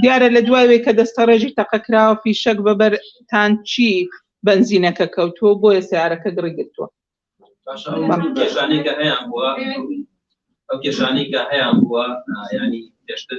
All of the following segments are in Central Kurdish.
دیارە لە دوای وەی کە دەستەڕێژی تەقە کراوە فیشەک بە بەر تانکی بەنزینەکە کەوتووە بۆیە سەیارەکە گڕی گرتووە ئەو کێشانەی کە هەیان بووە ینی پێشتر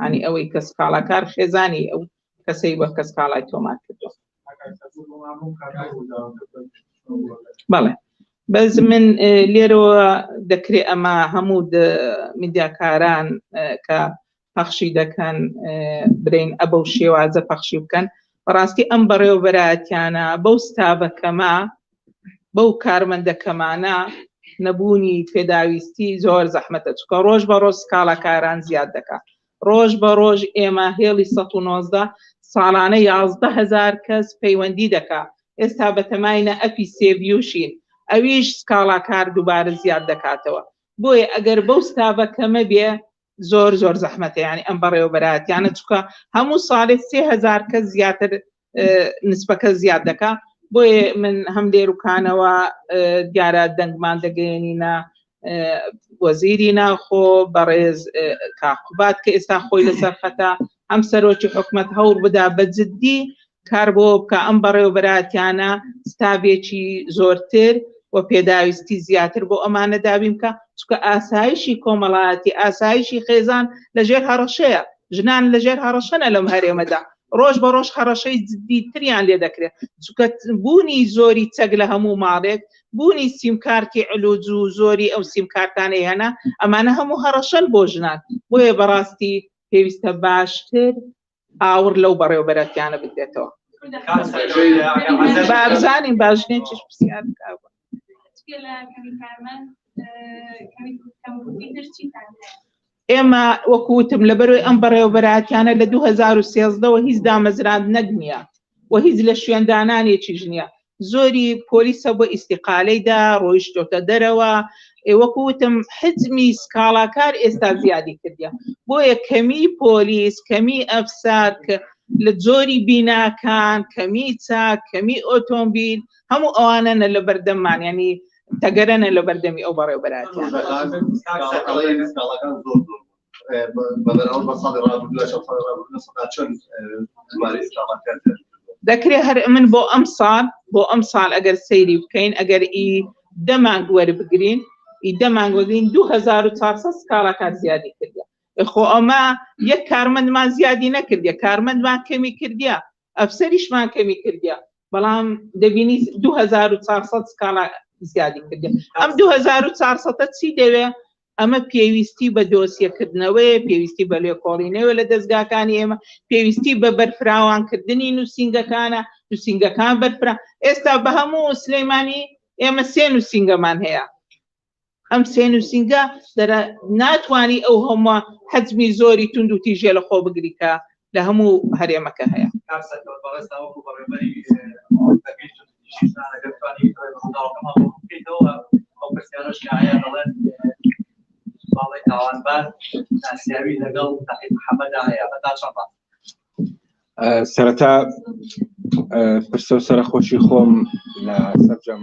یانی ئەوەی کە سکاڵاکار خێزانی ئەو کەسەی وەک کە سکاڵای تۆمار کردوە بەڵێ بەس من لێرەوە دەکرێ ئەمە هەموو میدیاکاران کە پەخشی دەکەن برین ئەبە و شێوازە پەخشی بکەن بەڕاستی ئەم بەڕێوەبەراتیانە بەو ستاڤەکەمە بەو کارمەندە کەمانە نەبوونی پێداویستی زۆر زەحمەتە چونکە ڕۆژ بە ڕۆژ سکاڵاکاران زیاد دەکا ڕۆژ بە ڕۆژ ئێمە هێڵی 119 ساڵانە یازدە هەزار کەس پەیوەندی دەکا ئێستا بەتەماینە ئەپی سێڤیوشین ئەویش سکاڵاکار دووبارە زیاد دەکاتەوە بۆیە ئەگەر بەو ستاڤە کەمە بێ زۆر زۆر زەحمەتە یانی ئەم بەڕێوەبەراتیانە چکە هەموو ساڵێ سێ هزار کەس زیاتر نسبەکە زیاد دەکا بۆیە من هەم لێروکانەوە دیارە دەنگمان دەگەێنینە وەزیری ناخۆ بەڕێز کاقوبات کە ئێستا خۆی لەسەر خەتا ئەم سەرۆکی حکومت هەوڵ بدا بە جددی کار بۆ بکە ئەم بەڕێوبەراتیانە ستاوێکی زۆرتر و پێداویستی زیاتر بۆ ئەمانە دابیم کە چکە ئاسایشی کۆمەڵایەتی ئاسایشی خێزان لەژێر هەڕەشەیە ژنان لەژێر هەڕەشەنە لەم هەرێمەدا ڕۆژ بە ڕۆژ هەڕەشەی جددی تریان لێ دەکرێت چونکە بوونی زۆری چەک لە هەموو ماڵێک بوونی سیمکارتی علوج و زۆری ئەو سیمکارتانەی هەنا ئەمانە هەموو هەڕەشەن بۆ ژنان بۆیە بەڕاستی پێویستە باشتر ئاوڕ لەو بەڕێوبەرەتیانە بدرێتەوە بابزانین باژنێن چش پرسیار بکە ئێمە وەکوتم لە بەروی ئەم بەڕێوەبەراتیانە لە 2013ەوە هیچ دامەزراند نەگنیە و هیچ لە شوێندانانێکی ژنیە زۆری پۆلیسە بۆ ئیسیقالەیدا ڕۆیشتۆتە دەرەوە وەکوتم حزمی سکاڵاکار ئێستا زیادی کردە بۆیە کەمی پۆلیس کەمی ئەفسار کە لە جۆری بیناکان کەمی چاک کەمی ئۆتۆمبیل هەموو ئەوانە نە لە بەردەممان یانی تەگەرە نە لە بەردەمی ئەو بەڕێوبەراتیان دەکرێت هەر من بۆ ئەم ساڵ بۆ ئەم ساڵ ئەگەر سەیری بکەین ئەگەر ئی دەمانگ وەربگرین ئی دەمانگ وەگرین 2400 سکاڵاکان زیادی کردە خۆ ئەمە یەک کارمەندمان زیادی نەکردە کارمەندمان کەمی کردە ئەفسەریشمان کەمی کردیە بەڵام دەبینی دو هەزار و چوار سەد سکاڵا زیادی کردیە ئەم دو هەزار و چوار سەدە چی دەوێ ئەمە پێویستی بە دۆسیەکردنەوەیە پێویستی بە لێکۆڵینەوە لە دەزگاکانی ئێمە پێویستی بە بەرفراوانکردنی نووسینگەکانە نووسینگەکان بەرفرا ئێستا بە هەموو سلەیمانی ئێمە سێ نووسینگەمان هەیە ئەم سێ نووسینگە دەرە ناتوانانی ئەو هەمووە حەجمی زۆری تونند و تیژێ لە خۆ بگری کە لە هەموو هەرێمەکە هەیە سەرەتا پرسە سەرخۆشی خۆم لە سەررجەم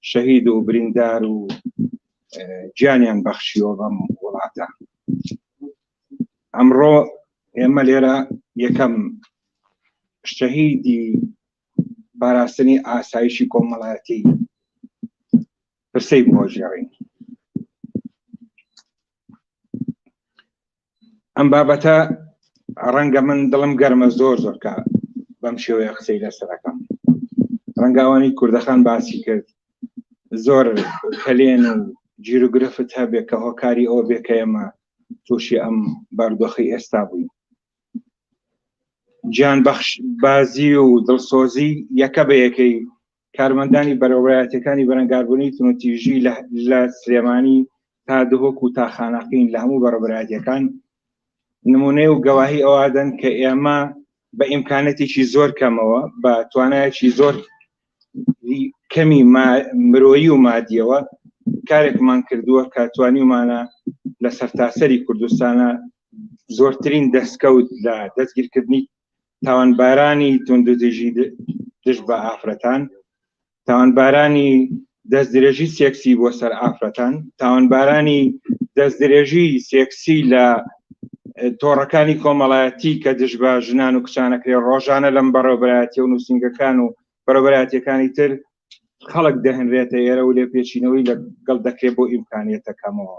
شەهید و بریندار و گیانیان بەخشیەوە بەم وڵاتە ئەمڕۆ ئێمە لێرە یەکەم شەهیدی پاراستنی ئاسایشی کۆمەڵایەتی پرسەی بۆ ژێڕین ئەم بابەتە ڕەنگە من دڵم گەرمە زۆر زۆرکە بەم شێوەیە قسەی لەسەرەکەم ڕەنگاوانی کوردەخان باسی کرد زۆر کەلێن و جیروگرفت هەبێ کە هۆکاری ئەو بێکەمە تووشی ئەم باردۆخی ئێستا بووین گیان بەخش بازی و دڵسۆزی یەکە بە یەکەی کارمەندانی بەرەوڕایەتەکانی بەرەنگاربوونی تونوتیژی لە سلێمانی تا دهۆک و تا خانەقین لە هەموو بەڕبرایەتەکان نمونەیە و گەواهی ئەوادەن کە ئێمە بە ئیمکانەتێکی زۆر کەمەوە بە توانایەکی زۆر کەمی مرۆیی و مادیەوە کارێکمان کردووە کە توانیمانە لە سەرتاسەری کوردستانە زۆرترین دەستکەوت لە دەستگیرکردنی تاوانبارانی توندوتیژی دژ بە ئافرەتان تاوانبارانی دەستدرێژی سێکسی بۆ سەر ئافرەتان تاوانبارانی دەستدرێژی سێکسی لە تۆڕەکانی کۆمەڵایەتی کە دژ بە ژنان و کچانەکرێ ڕۆژانە لەم بەڕێوبەرایەتی و نووسنگەکان و بەرەبەراتەکانی تر خەڵک دەهنرێتە ئێرە و لێ پێچینەوەی لەگەڵ دەکرێت بۆ ئیمکانیتەکەمەوە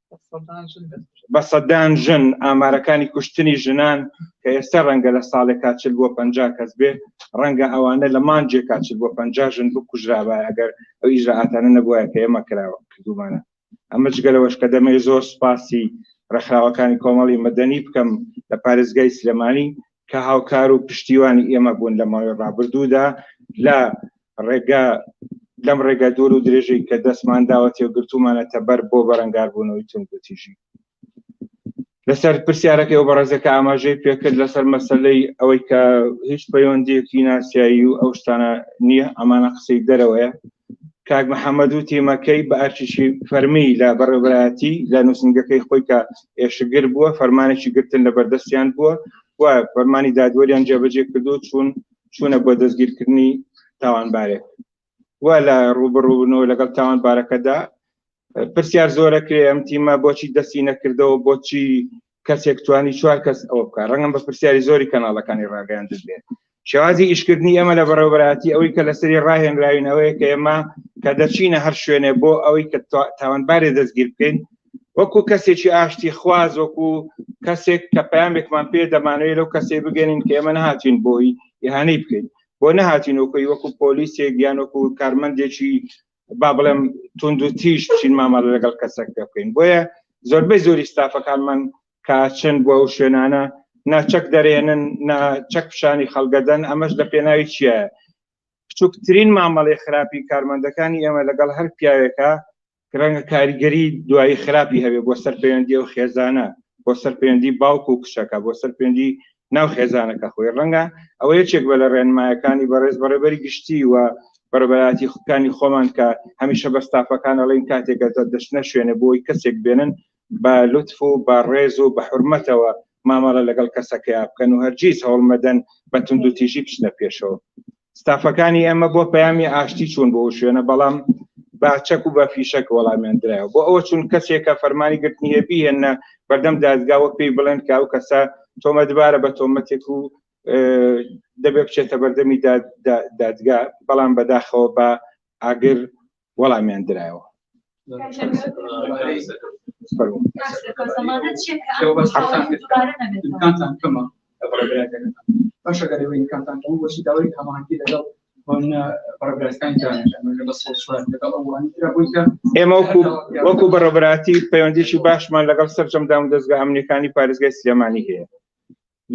بە سەدان ژن ئامارەکانی کوشتنی ژنان کە ئێستا ڕەنگە لە ساڵێک کاچل بۆ پ کەس بێ ڕەنگە ئەوانە لە مانجێ کاچل بۆ پ ژن بکوژرابە ئەگەر ئەو ئیژراتانە نەبووە کە ئێمە کراوە کردومانە ئەمە جگەلەوەش کە دەمێ زۆر سپاسی ڕێکخراوەکانی کۆمەڵی مەدەنی بکەم لە پارێزگای سلێمانی کە هاوکار و پشتیوانی ئێمە بوون لە ماوەی ڕابردوودا لە ڕێگە لەم ڕێگە دوور و درێژەی کە دەستمان داوەتی و گرتومانەتە بەر بۆ بەرەنگاربوونەوەی توندوتیژی لەسەر پرسیارەکەی و بەڕێزەکە ئاماژەی پێکرد لەسەر مەسلەی ئەوەی کە هیچ پەیوەندیەکی ناسیایی و ئەو شتانە نییە ئەمانە قسەی دەرەوەیە کاک محەممەد و تیمەکەی بە ئەرکیی فەرمی لە بەڕێوەبەرایەتی لە نووسنگەکەی خۆی کە ئێشکگر بووە فەرمانێکی گرتن لە بەردەستیان بووە و فەرمانی دادوەریان جێبەجێ کردو چوون چوونە بۆ دەستگیرکردنی تاوانبارێک و لە ڕوبڕوونەوە لەگەڵ تاوانبارەکەدا پرسیار زۆرە کرێ ئەم تیمە بۆچی دەستی نەکردەوە بۆچی کەسێک توانی چوار کەس ئەوە بکە ڕەنگم بە پرسیاری زۆری کەناڵەکانی ڕاگەیان دەبێت شێوازی ئیشکردنی ئێمە لە بەڕێوبەراتی ئەوەی کە لەسری ڕاهێنراوینەوەی کە ئێمە کە دەچینە هەر شوێنێ بۆ ئەوەی کە تاوانبارێ دەستگیر بکەین وەکو کەسێکی ئاشتی خواز وەکو کەسێک کە پامێکمان پێ دەمانەوەی لەو کەسێ بگەێنین کە ئێمە نهاتین بۆی یهانەی بکەین بۆ نهاتین وەکوی وەکو پۆلیسێک یان وەکو کارمەندێکی با بڵێم تونند و تیژ چین مامەڵە لەگەڵ کەسێک پێ بکەین بۆیە زۆربەی زۆری ستافەکانمان کاچن بۆ ئەو شوێنانە ناچەک دەرێنن ناچەک پیشانی خەڵگەدەن ئەمەش لە پێناوی چیە بچووکترین مامەڵی خراپی کارمەندەکانی ئێمە لەگەڵ هەر پیاوێکە ڕەنگە کاریگەری دوایی خراپی هەبێ بۆ سەر پەیوەندی و خێزانە بۆ سەر پەیوەندی باوک و کشەکە بۆ سەر پەیوەندی ناو خێزانەکە خۆی ڕەنگە ئەوە یەکێک بە لە ڕێنمایەکانی بەڕێز بەڕێبەری گشتی و بەڕبەراتی خوکانی خۆمان کە هەمیشە بەستافەکان ئەڵین کاتێکە دەشنە شوێنە بۆی کەسێک بێنن بە لطف و بە ڕێز و بە حرمەتەوە مامەڵە لەگەڵ کەسەکەیا بکەن و هەرگیز هەوڵمەدەن بە توندوتیژی بچنە پێشەوە ستافەکانی ئێمە بۆ پەیامی ئاشتی چوون بۆ شوێنە بەڵام بە چەک و بە فیشەک وەڵامیان درایەوە بۆ ئەوە چون کەسێکە فەرمانی گرتنی هەیە بهێنە بەردەم دادگاوە پێی بڵێن کە ئەو کەسە تۆمەتبارە بە تۆمەتێک و دەبێ بچێتە بەردەمی دادگا بەڵام بەداخەوە بە ئاگر وەڵامیان درایەوە باشەکەەکانتان بۆچی داوای هەمانکی لەگەڵ ئێمە وەکو بەڕۆبراتی پەیوەندیی باشمان لەگەڵ سەررجەم دام دەستگا ئەمنیەکانی پارێزگای سلێمانی هەیە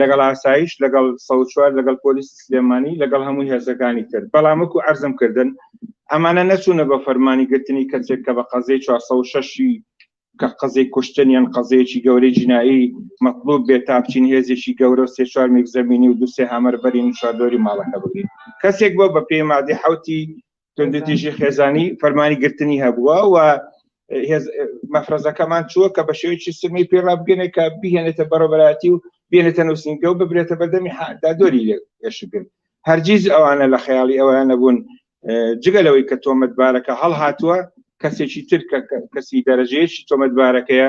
لەگەڵ ئاسایش لەگەڵ سەد و چوار لەگەڵ پۆلیسی سلێمانی لەگەڵ هەموو هێزەکانی تر بەڵام وەکو عەرزم کردن ئەمانە نەچوونە بە فەرمانی گرتنی کەسێک کە بە قەزیەی 406ی کە قەزیەی کوشتن یان قەزیەیەکی گەورەی جینایی مەطلوب بێت تا بچین هێزێکی گەورە و سێ چوار مێک زەمینی و دوو سێ هامەر بەرین و چواردۆری ماڵەکە بگرین کەسێک بۆ بە پێی مادەی حەوتی توندوتیژی خێزانی فەرمانی گرتنی هەبووە و مەفرەزەکەمان چووە کە بە شێوەیەکی سمی پێ ڕابگەنێ کە بهێنێتە بەڕەبەتی و بێنێتە نووسنگە و ببرێتە بەردەمی دادۆری لێشگن هەرگیز ئەوانە لە خەیاڵی ئەویان نەبوون جگە لەوەی کە تۆمەتبارەکە هەڵهاتووە کەسێکی تر کەسی دەرەجەیەکی تۆمەتبارەکەیە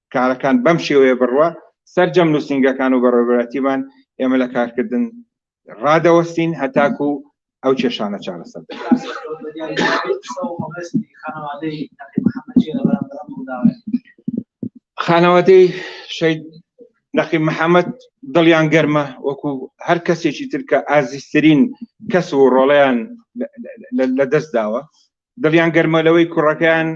کارەکان بەم شێوەیە بڕوا سەرجەم نووسنگەکان و بەڕێوەبەراتیمان ئێمە لە کارکردن ڕادەوەستین هەتاکو و ئەو کێشانە چارەسەر خانەوادەی شەید نەقی محەممەد دڵیان گەرمە وەکو هەر کەسێکی ترکە ئازیسترین کەس و ڕۆڵیان لە دەست داوە دڵیان گەرمە لەوەی کوڕەکەیان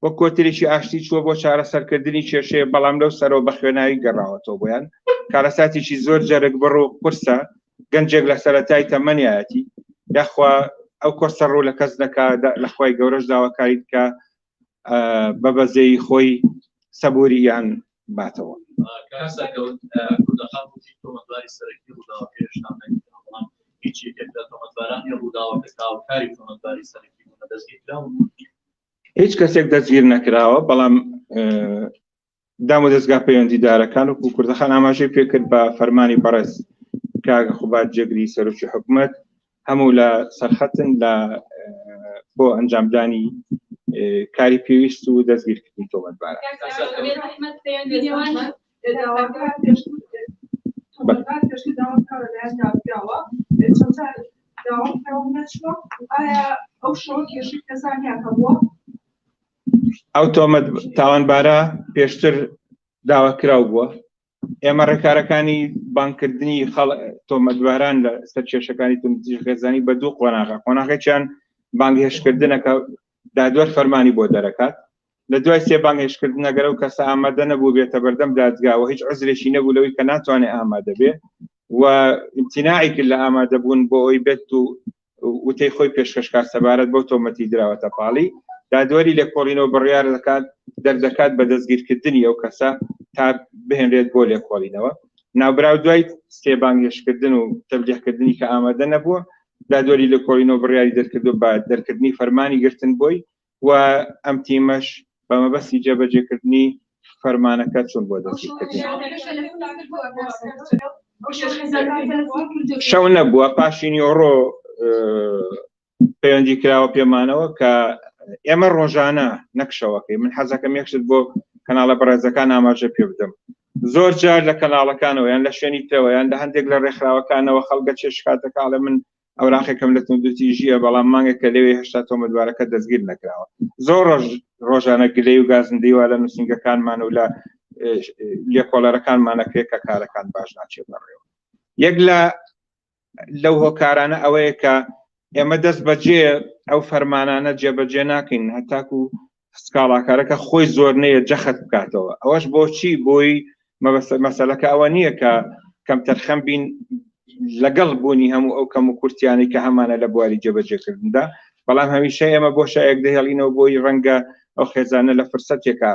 وەک کۆترێکی ئاشتی چووە بۆ چارەسەرکردنی کێشەیە، بەڵام لەو سەرەوە بە خوێناوی گەڕاوەتەوە بۆیان. کارەساتێکی زۆر جەرگبڕ و قورسە، گەنجێک لە سەرەتای تەمەنیایەتی، یاخوا ئەو قورسە ڕوو لە کەس نەکا، لە خوای گەورەش داواکاریت کە بە بەزەیی خۆی سەبووریان باتەوە. هیچ کەسێک دەستگیر نەکراوە بەڵام دام و دەستگا پەیوەندیدارەکان و کوردەخان ئاماژەی پێکرد بە فەرمانی بەڕێز کاگە خوبات جێگری سەرۆکی حکومت هەموو لە سەرخەتن لە بۆ ئەنجامدانی کاری پێویست و دەستگیرکردنی تۆمەتبارە ئەو تۆمەت تاوانبارە پێشتر داواکراو بووە ئێمە ڕێکارەکانی بانکردنی خەڵ تۆمەتباران لە سەر کێشەکانی توندتیژ خێزانی بە دوو قۆناغە قۆناغێکیان بانگهێشتکردنەکە دادوەر فەرمانی بۆ دەرەکات لە دوای سێ بانگهێشتکردنەگەرە و کەسە ئامادە نەبوو بێتە بەردەم دادگاوە هیچ عزرێکی نەبوو لەوەی کە ناتوانێت ئامادە بێ و امتناعی کرد لە ئامادەبوون بۆ ئەوی بێت و وتەی خۆی پێشکەشکار سەبارەت بەو تۆمەتی دراوەتە پاڵی دادوەری لێکۆڵینەوە بڕیار دەکات دەردەکات بە دەستگیرکردنی ئەو کەسە تا بهێنرێت بۆ لێکۆڵینەوە ناوبراو دوای سێبانگێشکردن و تەبلیغکردنی کە ئامادە نەبووە دادوەری لێکۆڵینەوە بڕیاری دەرکردو بە دەرکردنی فەرمانی گرتن بۆی و ئەم تیمەش بە مەبەستی جێبەجێکردنی فەرمانەکە چوون بۆ دەستی کردنی. شەو نەبووە پاشی نیۆڕۆ پەیوەندی کراوە پێمانەوە کە ئێمە ڕۆژانە نەکشەوەکەی من حەزەکەم یەکشت بۆ کەناڵە بەڕێزەکان ئاماژە پێ بدەم زۆر جار لە کەناڵەکانەوە یان لە شوێنی تەوەیان لە هەندێک لە ڕێکخراوەکانەوە خەڵگە چێشکاتەکەڵە من ئەوراقێکم لە توندوتیژیە بەڵام مانگە کە لەوێ هشتا تۆمەتبارەکە دەستگیر نەکراوە زۆر ڕۆژ ڕۆژانە گلەی و گازندەی وا لە نووسنگەکانمان و لە لێکۆڵەرەکانمانە کرێت کە کارەکان باش ناچێت بەڕێوە یەک لە لەو هۆکارانە ئەوەیە کە ئێمە دەست بەجێ ئەو فەرمانانە جێبەجێ ناکەین هەتاکو سکاڵاکارەکە خۆی زۆر نەیە جەخت بکاتەوە ئەوەش بۆچی بۆی مەسەلەکە ئەوە نییە کە کەم تەرخەم بین لەگەڵ بوونی هەموو ئەو کەم و کورتیانی کە هەمانە لە بواری جێبەجێکردندا بەڵام هەمیشە ئێمە بۆ شایەک دەهێڵینەوە بۆی ڕەنگە ئەو خێزانە لە فرسەتێکە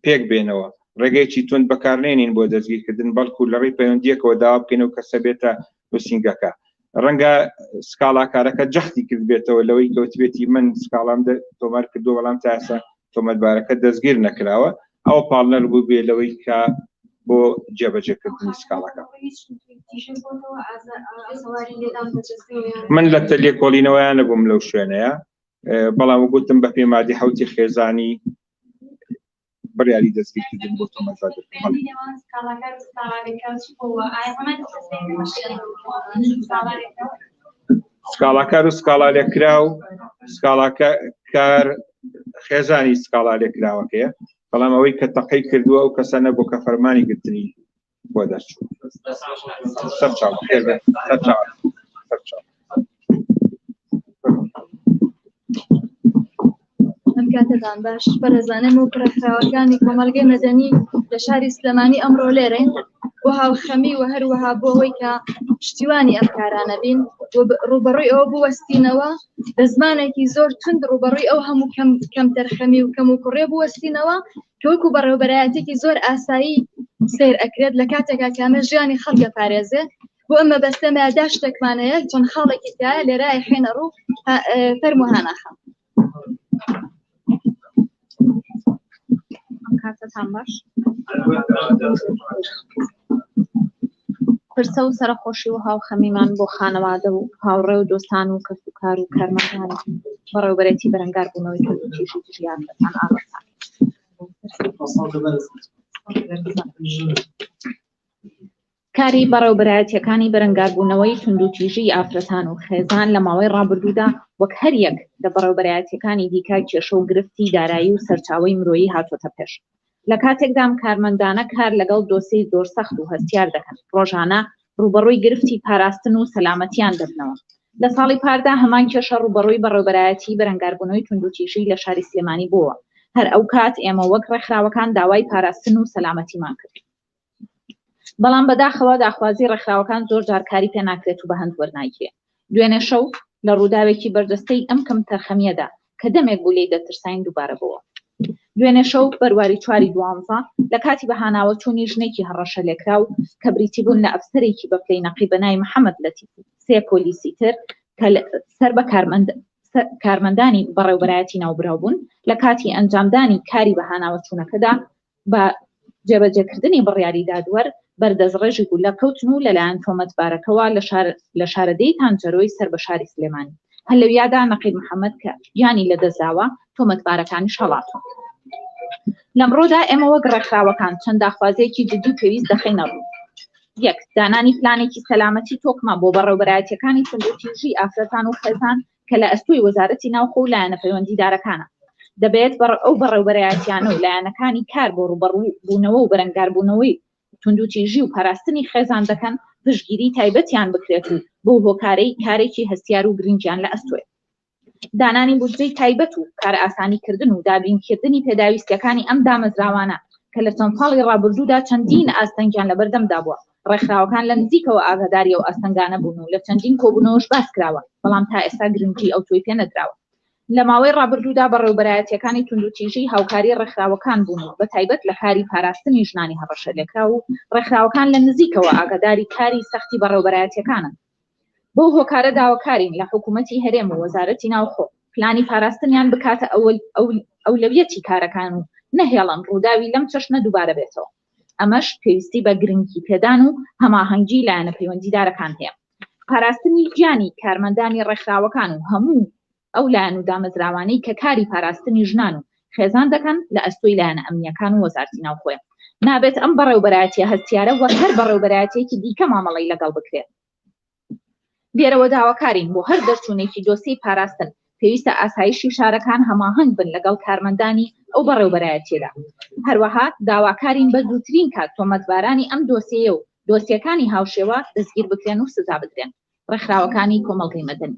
پێک بێنەوە ڕێگەیەکی تون بەکارنێنین بۆ دەستگیرکردن بەڵکو لە ڕێی پەیوەندیەکەوە داوا بکەین و کەسە بێتە نووسینگەکە ڕەنگە سکاڵاکارەکە جەختی کرد بێتەوە لەوەی کەوتبێتی من سکاڵام تۆمار کردو بەڵام تاسە تۆمەتبارەکە دەستگیر نەکراوە ئەو پاڵنەر بوو بێ لەوەی کە بۆ جێبەجێکردنی سکاڵەکە من لە تەلێکۆڵینەوەیان نەبووم لەو شوێنەیە بەڵام گوتم بە پێمادی حوتی خێزانی بڕیاری دەستگیرکردن بۆ تۆمەتبار دەکەن سکاڵاکار و سکاڵا لێکرا و سکاڵاکە کار خێزانی سکاڵا لێکراوەکەیە بەڵام ئەوەی کە تەقەی کردووە ئەو کەسانە بۆ کە فەرمانی گرتنی بۆ دەرچوو سەر چاو خێر بێت سەر چاو سەر چاو ئەم کاتەدان باش بەرەزانم و پرەخراوەکانی کۆمەلگەی مەدەنی لە شاری سلێمانی ئەمڕۆ لێرەین بۆ هاوخەمی و هەروەها بۆ ئەوەی کە پشتیوانی ئەم کارانە بین ڕوبەڕوی ئەوە بوەستینەوە بە زمانێکی زۆر تند ڕوبەڕوی ئەو هەموو کەم کەم دەرخەمی و کەم و کوڕێ بوەستینەوە کە وەکو بەڕێوەبەرایەتێکی زۆر ئاسایی سیر ئەکرێت لە کاتێکا کە ئەمە ژیانی خەڵک دەپارێزێ بۆ ئەمە بەستێمە دا شتێکمان هەیە چۆن خاڵێکی تایە لێرای حێنە ڕوو فەرمو هاناخەم کاتتان باش پرسە و سەرخۆشی و هاوخەمیمان بۆ خانەوادە و هاوڕێ و دۆستان و کەس و کار و کارمەکان بەڕێوبەرێتی بەرەنگار بوونەوەی کەسیشی ژیان دەتان ئاڕستان کاری بەڕێوبەرایەتیەکانی بەرەنگاربوونەوەی توندوتیژی ئافرەتان و خێزان لە ماوەی ڕابردوودا وەک هەریەک لە بەڕێوبەرایەتیەکانی دیکە کێشە و گرفتی دارایی و سەرچاوەی مرۆیی هاتۆتە پێش لە کاتێکدام کارمەندانە کار لەگەڵ دۆسێی زۆر سەخت و هەستیار دەکەن ڕۆژانە ڕووبەڕووی گرفتی پاراستن و سەلامەتییان دەبنەوە. لە ساڵی پاردا هەمان کێشە ڕووبەڕووی بەڕێوبەرایەتیی بەرەنگاربوونەوەی توندوتیژی لە شاری سلێمانی بووەوە، هەر ئەو کات ئێمە وەک ڕێکخراوەکان داوای پاراستن و سەلامەتیمان کرد، بەڵام بەداخەوە داخوازی ڕێکخراوەکان زۆر جار کاری پێ ناکرێت و بەهەند وەرناگیرێ. دوێنێ شەو لە ڕووداوێکی بەرجەستەی ئەم کەمتەرخەمییەدا کە دەمێک بوو لێی دەترساین دووبارە بۆوە. دوێنێ شەو بەرواری چواری دوانزە لە کاتی بەهاناوە چوونی ژنێکی هەڕەشەلێکراو کە بریتی بوون لە ئەفسەرێکی بە پلەی نەقیب بە ناوی محەمەد لەتیف و سێ پۆلیسی تر کە سەر بە کارمەند کارمەندانی بەڕێوبەرایەتی ناوبراو بوون لە کاتی ئەنجامدانی کاری بەهاناوە چوونەکەدا بە جێبەجێکردنی بڕیاری دادوەر بەر دەستڕێژی گوللە کەوتن و لەلایەن تۆمەتبارەکەوە لە شارەدێی تانجەرۆی سەر بە شاری سلێمانی هەر لەویادا نەقیب محەمەد کە گیانی لەدەستداوە، تۆمەتبارەکانیش هەڵاتوون. لەمڕۆدا ئێمە وەک ڕێکخراوەکان چەند داخوازیەکی جددی و پێویست دەخەینە ڕوو. یەک، دانانی پلانێکی سەلامەتی تۆکمە بۆ بەڕێوبەرایەتیەکانی توندوتیژی ئافرەتان و خێزان کە لە ئەستۆی وەزارەتی ناوخۆ و لایەنە پەیوەندیدارەکانە، دەبێت ئەو بەڕێوبەرایەتیانە و لایەنەکانی کار بۆ ڕووبەڕوو بوونەوە و بەرەنگاربوونەوەی توندوتیژی و پاراستنی خێزان دەکەن پشتگیری تایبەتیان بکرێت و بەو هۆکارەی کارێکی هەستیار و گرنگیان لە ئەستۆیە. دانانی بودجەی تایبەت و کارئاسانیکردن و دابینکردنی پێداویستیەکانی ئەم دامەزراوانە کە لە چەند ساڵی ڕابردوودا چەندین ئاستەنگیان لەبەردەمدا بووە، ڕێکخراوەکان لە نزیکەوە ئاگاداری ئەو ئاستەنگانە بوون و لە چەندین کۆبوونەوەش باس کراوە، بەڵام تا ئێستا گرنگی ئەوتۆی پێ نەدراوە. لە ماوەی ڕابردوودا بەڕێوەبەرایەتییەکانی توندوتیژی هاوکاری ڕێکخراوەکان بوون و بەتایبەت لە کاری پاراستنی ژنانی هەڕەشەلێکراو و ڕێکخراوەکان لە نزیکەوە ئاگاداری کاری سەختی بەڕێوەبەرایەتییەکانن بەو هۆکارە داواکارین لە حکوومەتی هەرێم و وەزارەتی ناوخۆ پلانی پاراستنیان بکاتە ئەولەویەتی کارەکان و نەهێڵن ڕووداوی لەم چەشنە دووبارە بێتەوە. ئەمەش پێویستی بە گرنگی پێدان و هەماهەنگی لایەنە پەیوەندیدارەکان هەیە. پاراستنی گیانی کارمەندانی ڕێکخراوەکان و هەموو ئەو لایەن و دامەزراوانەی کە کاری پاراستنی ژنان و خێزان دەکەن لە ئەستۆی لایەنە ئەمنییەکان و وەزارتی ناوخۆیە. نابێت ئەم بەڕێوبەرایەتییە هەستیارە وەک هەر بەڕێوبەرایەتییەکی دیکە مامەڵەی لەگەڵ بکرێت. دێرەوە داواکارین بۆ هەر دەرچوونێکی دۆسیەی پاراستن، پێویستە ئاسایشی شارەکان هەماهەنگ بن لەگەڵ کارمەندانی ئەو بەڕێوبەرایەتییەدا. هەروەها داواکارین بە زووترین کات تۆمەتبارانی ئەم دۆسیەیە و دۆسیەکانی هاوشێوە دەستگیربکرێن و سزابدرێن. ڕێکخراوەکانی کۆمەڵگەی مەدەنی.